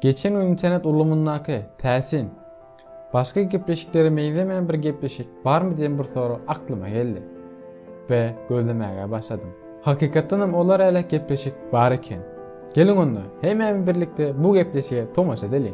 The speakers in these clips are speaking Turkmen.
Geçen gün internet ulgamyndaky täsin, başga gepleşiklere meňzemeýän bir gepleşik barmy diýen bir sorag aklyma geldi we gözlemäge başladym. Hakykatdanam olar älek gepleşik bar eken. Geliň onda, hemmämiz birlikde bu gepleşige tomaşa edeliň.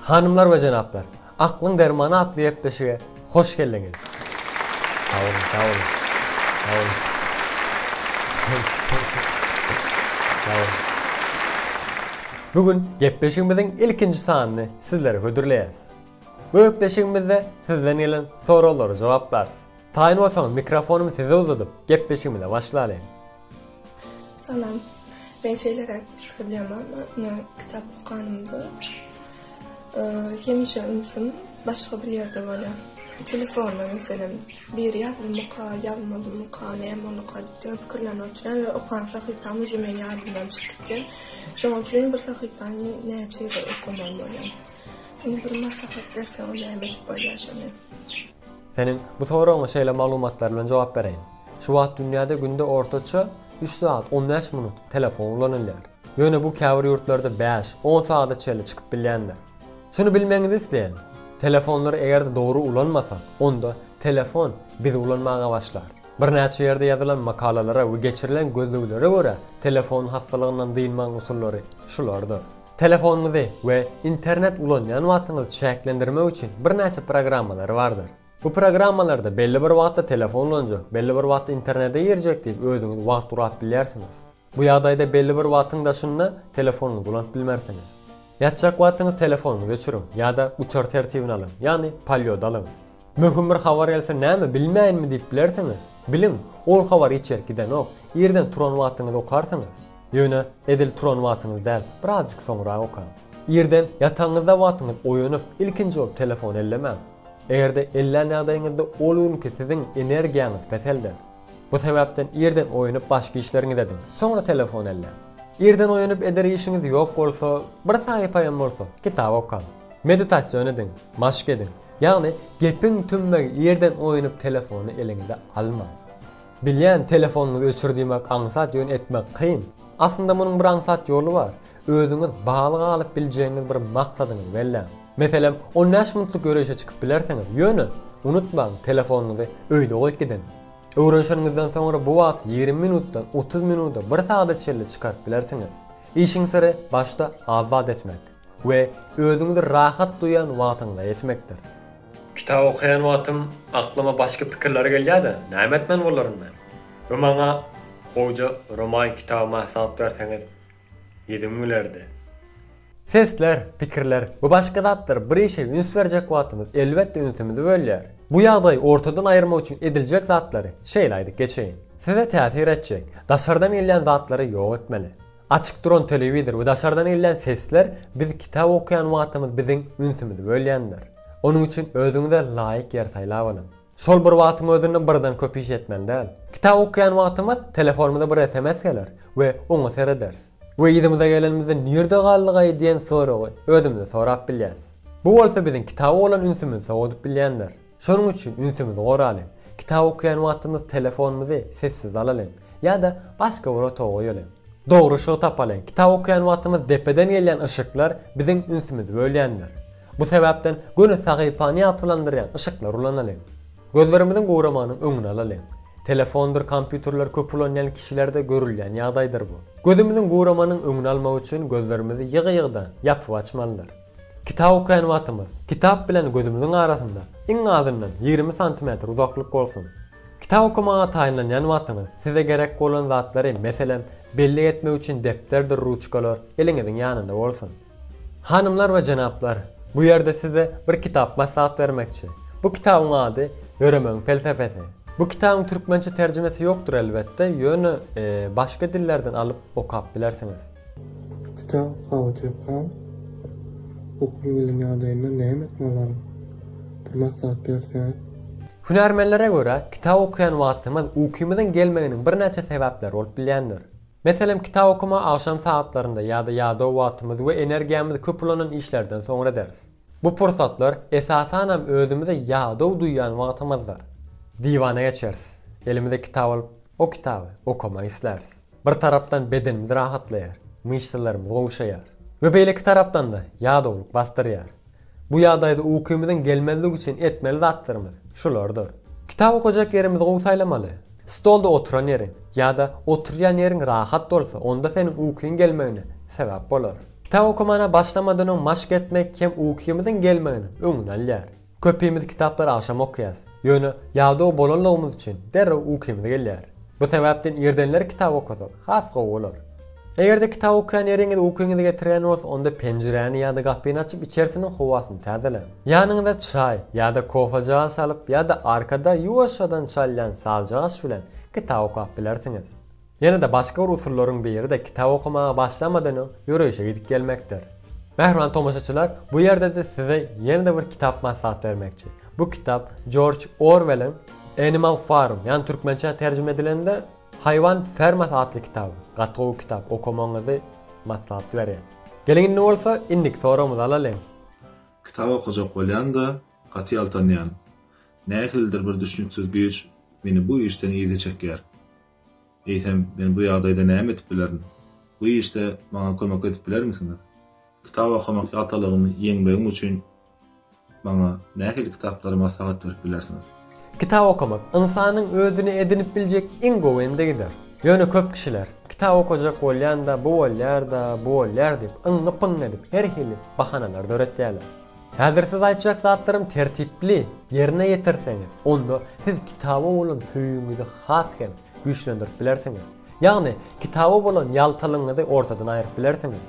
Hanymlar we jenaplar, Aklyň dermany atly gepleşige hoş geldiňiz! Sag boluň, sag boluň. Sag boluň. Sag boluň. Bu gün gepleşigimiziň ilkinji sanyny sizlere hödürleýäs. Bu gepleşigimizde sizden gelen soraglara jogaplarys. Taýyn bolsaňyz mikrofonymy size uzadyp, gepleşigimize başlalyň. Salam. Men şeýleräk bir problema bar. Men kitap okanymda hemişe ünsüm başga bir ýerde bolýar. Telefonda meselem biri ýazylmyka, ýazmalymyka, näme bolaka diýip pikirlenip otyryn we okan sahypam uje meniň ýadymdan çykyp gitýär. Şonuň üçin bir sahypany näçe gezek okamaly bolýar? Indi bir maslahat berseň näme edip bolýar şony? Seniň bu soragyňa şeýle maglumatlar bilen jogap bereýin. Şu wagt dünýäde günde ortaça üç sagat on bäş minut telefon ulanylýar. Ýöne bu käbir ýurtlarda bäş, on sagada çenli çykyp bilýändir. Şuny bilmegiňizi isleýän, telefonlary eger-de dogry ulanmasak, onda telefon bizi ulanmaga başlar. Birnäçe ýerde ýazylan makalalara we geçirilen gözleglere görä, telefon hassalygyndan dynmagyň usullary şulardyr. Telefonyňyzy we internet ulanýan wagtyňyzy çäklendirmek üçin birnäçe programmalary bardyr. Bu programmalarda belli bir wagtda telefon ulanjak, belli bir wagtda internete girjek diýip özüňiz wagt gurap bilýärsiňiz. Bu ýagdaýda belli bir wagtyň daşynda telefonyňyzy ulanyp bilmersiňiz. Ýatjak wagtyňyz telefonyňyzy öçüriň ýa-da uçar tertibine alyň, ýagny polýod alyň. Möhüm bir habar gelse näme bilmäýinmi diýip bilersiňiz? Biliň, ol habar hiç ýere gidenok, irden turan wagtyňyz okarsyňyz. Ýöne edil turan wagtyňyz däl, birazjyk soňrak okaň. Irden ýataňyzda wagtyňyz oýanyp, ilkinji bolup telefony ellemäň. Eger-de ellän ýagdaýyňyzda ol günki siziň energiýaňyz peselder. Bu sebäpden irden oýanyp başky işleriňizi ediň, soňra telefony elläň. Irden oýanyp eder işiňiz ýok bolsa, bir sahypa hem bolsa, kitap okaň. Meditasiýon ediň, maşk ediň. Ýagny gepiň tümmegi irden oýanyp telefony eliňize almaň. Bilýän telefonyňyzy öçür diýmek aňsat ýöne etmek kyn. Aslynda munuň bir aňsat ýoly bar. Özüňiz bagly galyp biljegiňiz bir maksadyňyzy belläň. Meselem on bäş minutlyk ýöreýşe çykyp bilersiňiz ýöne unutmaň telefonyňyzy öýde goýup gidiň. Öwrenişeniňizden soňra bu wagty ýigrimi minutdan otuz minuda bir sagada çenli çykaryp bilersiňiz. Işiň syry başda az zat etmek. We özüňizi rahat duýan wagtyňda etmekdir. Kitap okaýan wagtym aklyma başga pikirler gelýär-de, näme etmeli bolaryn men? Bu maňa gowja roman kitaby maslahat berseňiz ýediň gülerdi. Sesler, pikirler, bu başga zatlar, bir işe üns berjek wagtymyz elbetde ünsümizi bölýär. Bu ýagdaýy ortadan aýyrmak üçin ediljek zatlary şeýle aýdyp geçeýin. Size täsir etjek, daşardan gelýän zatlary ýok etmeli. Açyk duran telewizor we daşardan gelýän sesler biz kitap okaýan wagtymyz biziň ünsümizi bölýändir. Onuň üçin özüňize laýyk ýer saýlap alyň. Şol bir wagtyň özünde birden köp iş etmeli däl. Kitap okaýan wagtymyz telefonymyza bir sms geler we oňa serederis. We yzymyza gelenimizde nirde galdygaý diýen soragy özümize sorap bilýäs. Bu bolsa biziň kitaba bolan ünsümizi sowadyp bilýändir. Şonuň üçin ünsümizi goralyň. Kitap okaýan wagtymyz telefonymyzy sessiz alalyň ýa-da başga bir otaga goýalyň. Dogry yşygy tapalyň. Kitap okaýan wagtymyz depeden gelýän yşyklar biziň ünsümizi bölýändir. Bu sebäpden göni sahypany ýagtylandyrýan yşyklar ulanalyň. Gözlerimiziň guramanyň öňüni alalyň. Telefondyr kompýuterleri köp ulanýan kişilerde görülýän ýagdaýdyr bu. Gözümiziň guramanyň öňüni almak üçin gözlerimizi ýygy-ýygydan ýapyp-açmalydyr. Kitap okaýan wagtymyz kitap bilen gözümiziň arasynda iň azyndan ýigrimi santimetr uzaklyk bolsun. Kitap okamaga taýynlanýan wagtyňyz size gerek bolan zatlary, meselem, bellik etmek üçin depderdir ruçkalar eliňiziň ýanynda bolsun. Hanymlar we jenaplar, bu ýerde size bir kitap maslahat bermekçi. Bu kitabyň ady Ýöremegiň pelsepesi. Bu kitabyň türkmençe terjimesi ýokdur elbetde, ýöne başga dillerden alyp okap bilersiňiz. Kitap How to Crawl Bu kwiziň ýagdaýynda näme etmeli bolaryn? Bir maslahat berseňiz. Hünärmenlere görä, kitap okaýan wagtymyz ukymyzyň gelmeginiň birnäçe sebäpleri bolup bilýändir. Meselem, kitap okama agşam sagatlarynda ýa-da ýadaw wagtymyz we energiýamyz köp ulanan işlerden soňra ederis. Bu pursatlar, esasanam, özümizi ýadaw duýýan wagtymyzdyr. Diwana geçeris. Elimize kitap alyp, o kitaby okamak isläris. Bir tarapdan bedenimiz rahatlaýar, myşsalarymyz gowşaýar we beýleki tarapdan-da ýadawlyk basdyrýar. Bu ýagdaýda ukymyzyň gelmezligi üçin etmeli zatlarymyz şulardyr. Kitap okajak ýerimizi gowy saýlamaly. Stolda oturan ýeriň ýa-da oturýan ýeriň rahat bolsa, onda seniň ukyň gelmegine sebäp bolar. Kitap okamana başlamadan öň maşk etmek hem ukymyzyň gelmeginiň öňüni alýar. Köpimiz kitaplary agşam okaýarys. Ýöne ýadaw bolanlygymyz üçin derrew ukymyz gelýär. Bu sebäpden irdenler kitap okasak has gowy bolar. Eger-de kitap okaýan ýeriňiz ukyňyzy getirýän bolsa, onda penjiräni ýa-da gapyny açyp içerisiniň howasyny täzeläň. Ýanyňyza çaý ýa-da kofejagaş alyp ýa-da arkada ýuwaşjadan çalýan sazjagaş bilen kitap okap bilersiňiz. Ýene-de başga bir usullaryň biri-de kitap okamaga başlamadan öň ýöreýşe gidip gelmekdir. Mähriban tomaşaçylar, bu ýerde-de size ýene-de bir kitap maslahat bermekçi. Bu kitap Jorj Orwelliň Animal Farm, ýagny türkmençä terjime edilende Haýwan fermasy atly kitaby. Gaty gowy kitap, okamagyňyzy maslahat berýän. Geliň indi bolsa, indiki soragymyzy alalyň. Kitap okajak bolýan-da, gaty ýaltanýan. Nähilidir bir düşnüksiz güýç meni bu işden yza çekýär. Eýsem, men bu ýagdaýda näme edip bilerin? Bu işde maňa kömek edip bilermisiňiz? Kitap okamak ýaltalygymy ýeňmegim üçin maňa nähili kitaplary maslahat berip bilersiňiz? Kitap okamak ynsanyň özüne edinip biljek iň gowy endigidir. Ýöne köp kişiler, Kitap okajak bolýan-da, bu bolýar-da, bu bolýar diýip, yňňy-pyňňy edip, her hili bahanalar döretýärler. Häzir siz aýtjak zatlarym tertipli ýerine ýetirseňiz, onda siz kitaba bolan söýgiňizi has hem güýçlendirip bilersiňiz. Ýagny, kitaba bolan ýaltalygyňyzy ortadan aýryp bilersiňiz.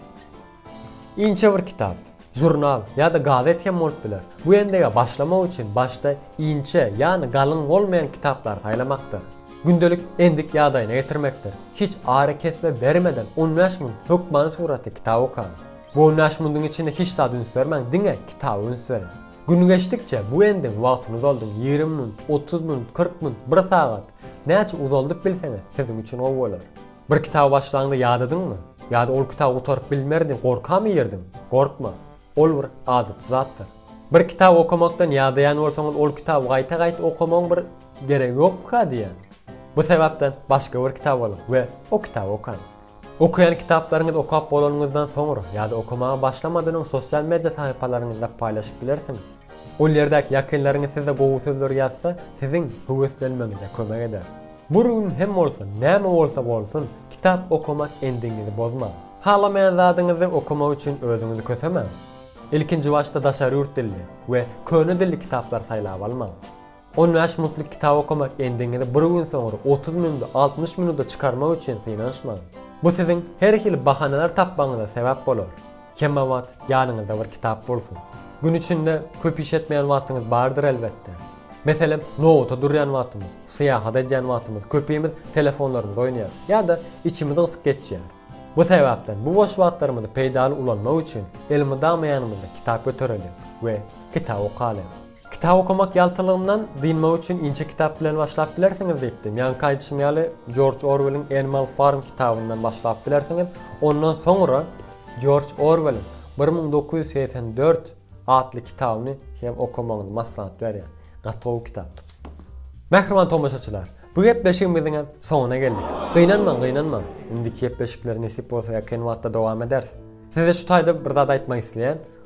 Inçe bir kitap, žurnal ýa-da gazet hem bolup biler. Bu endege başlamak üçin başda inçe, ýagny galyň bolmaýan kitaplary saýlamakdyr. Gündelik endik ýagdaýyna getirmekdir. Hiç arakesme bermeden on bäş müň hökmany suratly kitap okaň. Bu on bäş mundyň içinde hiç zada üns bermäň, diňe kitaba üns beriň. Gün geçdikçe bu endiň wagtyny uzaldyň, ýigrimi munut, otuz munut, kyrk munut, bir sagat, näçe uzaldyp bilseňiz, siziň üçin gowy bolar. Bir kitaby başlaňda ýadadyňmy? Ýa-da ol kitaby gutaryp bilmerin diýip gorkamy ýerdiň? Gorkma. Ol bir adaty zatdyr. Bir kitaby okamakdan ýadaýan bolsaňyz, ol kitaby gaýta-gaýta okamagyň bir geregi ýokmyka diýýän. Bu sebäpden başga bir kitap alyň we o kitaby okaň. Okaýan kitaplaryňyzy okap bolanyňyzdan soňra ýa-da okamaga başlamadan öň sosial media sahypalaryňyzda paýlaşyp bilersiňiz. Ol ýerdäki ýakynlaryňyz size gowy sözler ýazsa, siziň höweslenmegiňize kömek eder. Bir gün hem bolsa, näme bolsa bolsun, kitap okamak endigiňizi bozmaň. Halamaýan zadyňyzy okamak üçin özüňizi kösemäň. Ilkinji başda daşary ýurt dilli we köne dilli kitaplar saýlap almaň. On bäş minutlyk kitap okamak endigiňizi bir gün soňra otuz minut, altmyş minuta çykarmak üçin synanyşmaň. Bu siziň her hili bahanalar tapmagyňyza sebäp bolar. Hemewagt ýanyňyzda bir kitap bolsun. Gün içinde köp iş etmeýän wagtyňyz bardyr elbetde. Meselem, nobata durýan wagtymyz, syýahat edýän wagtymyz köpimiz telefonlarymyza oýnaýarys ýa-da içimiz gysyp geçýär. Bu sebäpden bu boş wagtlarymyzy peýdaly ulanmak üçin elmydama ýanymyzda kitap göterelim we kitap okalyň. Kitap okamak ýaltylygyndan dynmak üçin inçe kitap bilen başlap bilersiňiz diýipdi. Ýaňky aýdyşym ýaly, Jorj Orwelliň Animal Farm kitabyndan başlap bilersiňiz. Ondan soňra Jorj Orwelliň bir müň dokuz ýüz segsen dört atly kitabyny hem okamagyňyzy maslahat berýän. Gaty gowy kitap. Mähriban tomaşaçylar, bu gepleşigimiziň hem soňuna geldik. Gynanmaň, gynanmaň. Indiki gepleşikleri nesip bolsa ýakyn wagtda dowam ederis. Size şu taýda bir zat aýtmak isleýän.